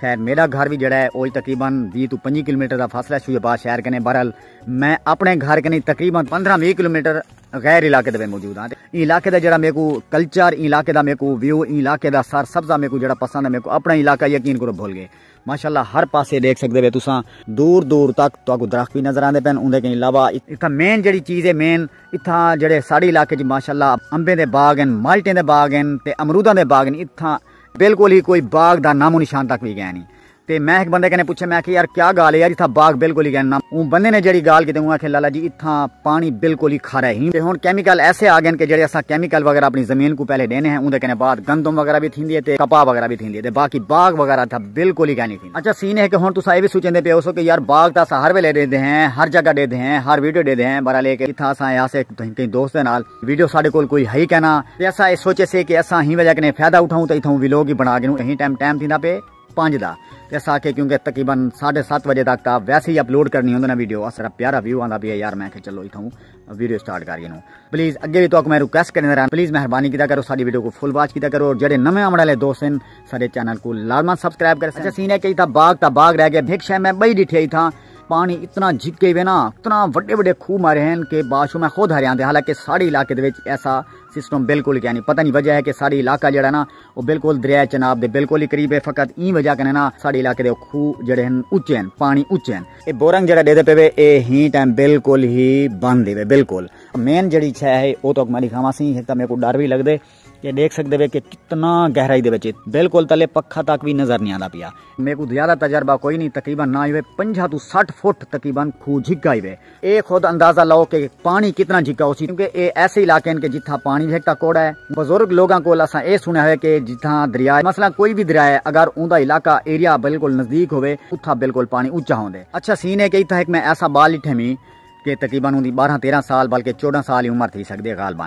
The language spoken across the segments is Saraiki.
خیر میڈا گھر وی جیڑھا ہے اوج تقریبا ویہہ توں پنجی کلومیٹر دا فاصلہ ہے سوئی آباد شہر کنے بہرحال میں اپنے گھر کنے تقریبا پندرہ ویہہ کلومیٹر غیر علاقے دے وچ موجود ہاں ایں علاقے دا جیڑھا میکوں کلچر ایں علاقے دا میکوں ویو ایں علاقے دا سر سبزہ میکوں جیڑھا پسند ہے میکوں اپنا علاقہ یقین کرو بھول گئے ماشاءاللہ ہر پاسے دیکھ سکدے وے تساں دور دور تک تہاکوں درخت وی نظر آندے پن اوندے کہیں علاوہ اتھاں مین جیڑھی چیز ہے مین اتھاں جیڑھے ساڈے علاقے وچ ماشاءاللہ امبیں دے باغ ہیں مالٹیں دے باغ ہیں تے امروداں دے باغ ہیں اتھاں بالکل ہی کوئی باغ دا نام و نشان تک وی گئے نہیں تے میں ایک بندے کنے پوچھے میں کہ یار کیا گال ہے یار اتھا باغ بالکل ہی گئے نام اون بندے نے جڑی گال کیتے اون آکھے لالا جی اتھا پانی بالکل ہی کھارا ہی تے ہن کیمیکل ایسے آ گئے کہ جڑے اسا کیمیکل وغیرہ اپنی زمین کو پہلے دینے ہیں اون دے کنے بعد گندم وغیرہ بھی تھیندی ہے تے کپا وغیرہ بھی تھیندی ہے تے باقی باغ وغیرہ تھا بالکل ہی گئے نہیں تھیندی اچھا سین ہے کہ ہن تسا اے بھی سوچیں دے پے ہوسو کہ یار باغ تاں اسا ہر ویلے دے دے ہیں ہر جگہ دے دے ہیں ہر ویڈیو دے دے ہیں برحال اے کہ اتھا اسا ایسے کہیں دوست دے نال ویڈیو ساڈے کول کوئی ہئی کینا تے اساں اے سوچے سے کہ اساں ہی وجہ کنے فیدہ اٹھاؤں تے اتھاؤں ویلوگ ہی بنا گھنوں ہی ٹائم ٹائم تھیندا پے پنج دا تے اساں آکھے کیوں کہ تقریبا ساڈے ست وجے تک تا ویسے ہی اپلوڈ کرنی ہوندے نا ویڈیو اسرا پیارا ویو آندا پیا یار میں کہ چلو اتھاؤں ویڈیو سٹارٹ کر گھنوں پلیز اگے بھی تاکہ میں ریکویسٹ کرنے رہا پلیز مہربانی کیتا کرو ساڈی ویڈیو کو فل واچ کیتا کرو اور جڑے نویں آمڑ والے دوست ہیں ساڈے چینل کو لازما سبسکرائب کرے سچا سین ہے کہ تھا باغ تا باغ رہ گیا بھیک شے میں بئی ڈٹھے تھا پانی اتنا جھکے ہوئے نا اتنا وڈے وڈے کھو مارے ہیں کہ باشو میں خود ہرے آندے حالانکہ ساڑی علاقے دے وچ ایسا سسٹم بالکل کیا نہیں پتہ نہیں وجہ ہے کہ ساڑی علاقہ جڑا نا وہ بالکل دریائے چناب دے بالکل ہی قریب ہے فقط این وجہ کنے نا ساڑی علاقے دے کھو جڑے ہیں اچھے ہیں پانی اچھے ہیں اے بورنگ جڑا دے دے پہ وے اے ہی ٹائم بالکل ہی بند دے وے بالکل مین جڑی چھے ہے وہ تو اکمالی کھاما سی ہی ایک تا میں کو ڈر بھی لگ دے یہ دیکھ سکدے وے کہ کتنا گہرائی دے وچ بالکل تلے پکھا تک بھی نظر نہیں آندا پیا میکو زیادہ تجربہ کوئی نہیں تقریبا نہ ہوئے 50 تو 60 فٹ تقریبا کھو جھکا ہوئے اے خود اندازہ لاؤ کہ پانی کتنا جھکا ہو سی کیونکہ اے ایسے علاقے ہیں کہ جتھا پانی جھکتا کوڑا ہے بزرگ لوگاں کول اساں اے سنیا ہوئے کہ جتھا دریا ہے مثلا کوئی بھی دریا ہے اگر اون دا علاقہ ایریا بالکل نزدیک ہوئے اتھا بالکل پانی اونچا ہوندے اچھا سین ہے کہ اتھا ایک میں ایسا بال اٹھے می کہ تقریبا اون دی 12 13 سال بلکہ 14 سال ہی عمر تھی سکدے غالبا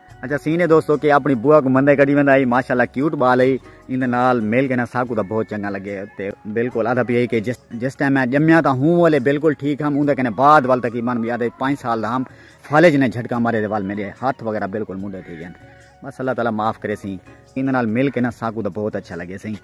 اچھا سینے دوستو کہ اپنی بوا کو مندے کڈی ویندا ہے ماشاءاللہ کیوٹ بال ہے ایندے نال مل کے نا ساکو دا بہت چنگا لگے تے بالکل ادھا پی ہے کہ جس جس ٹائم میں جمیا تا ہوں والے بالکل ٹھیک ہم اوندے کنے بعد وال تقریبا بھی ادھے 5 سال دا ہم فالج نے جھٹکا مارے دے وال میرے ہاتھ وغیرہ بالکل منڈے تھی گئے بس اللہ تعالی معاف کرے سی ایندے نال مل کے نا ساکو دا بہت اچھا لگے سی